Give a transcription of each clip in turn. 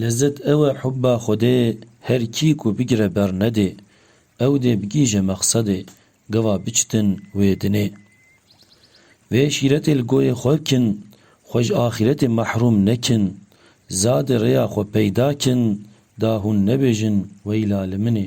Lezzet ew e hubba Xwedê her kî ku bigire ber nedê, ew dê bigîje mexsedê, gava biçitin wê dinê. Vê şîretê li goyê xwe kin, xwe ji axîretê mehrûm nekin, zade rêya xwe peyda kin da hûn nebêjin weyla li min ê.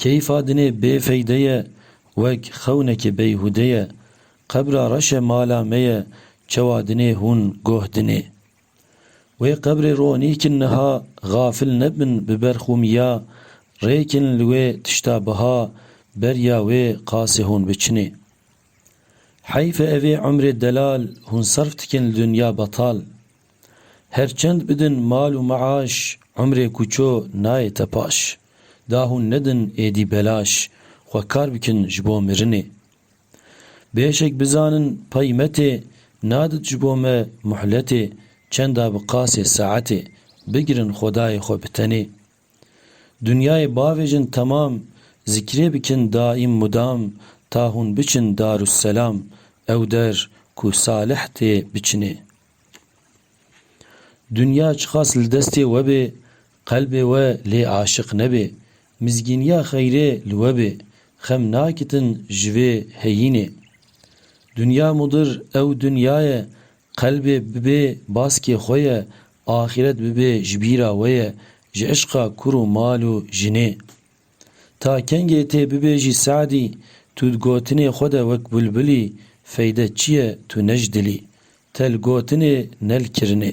Keyfa dinê bê feyde ye wek xewnekê beyhûde ye. Qebra reş e mala me ye çewa dinê hûn goh dinê. Wê qebrê ronî kin niha xafil nebin bi ber xûmiya rê kin li wê tişta biha beriya wê qasê hûn biçinê. Heyf e evê umrê delal hûn serf dikin li dinya betal. Her çend bidin mal û meaş, umrê kûço nayê te paş. Da hûn nedin êdî belaş, xwe kar bikin ji bo mirinê. Bêşek bizanin peymetê, nadit ji bo me muhletê, çenda bi qasê saetê, bigirin xwedayê xwe bi tenê. Dinyayê bavêjin temam, zikrê bikin daîm mudam, ta hûn biçin Darusselam, ew der ku salih tê biçinê. Dinya çiqas li destê we bê, qelbê we lê aşiq nebê, mizgîniya xeyrê li we bê, xem nakitin ji vê heyînê. Dinya mudir ew dinya ye, qelbê bibê baskê xwe ye, axiret bibê ji bîra we ye, ji işqa kur û mal û jinê. Ta kengê tê bibêjî Se'dî, tu di gotinê xwe de wek bulbulî, feyde çi ye tu ne ji dilî, te li gotinê ne li kirinê.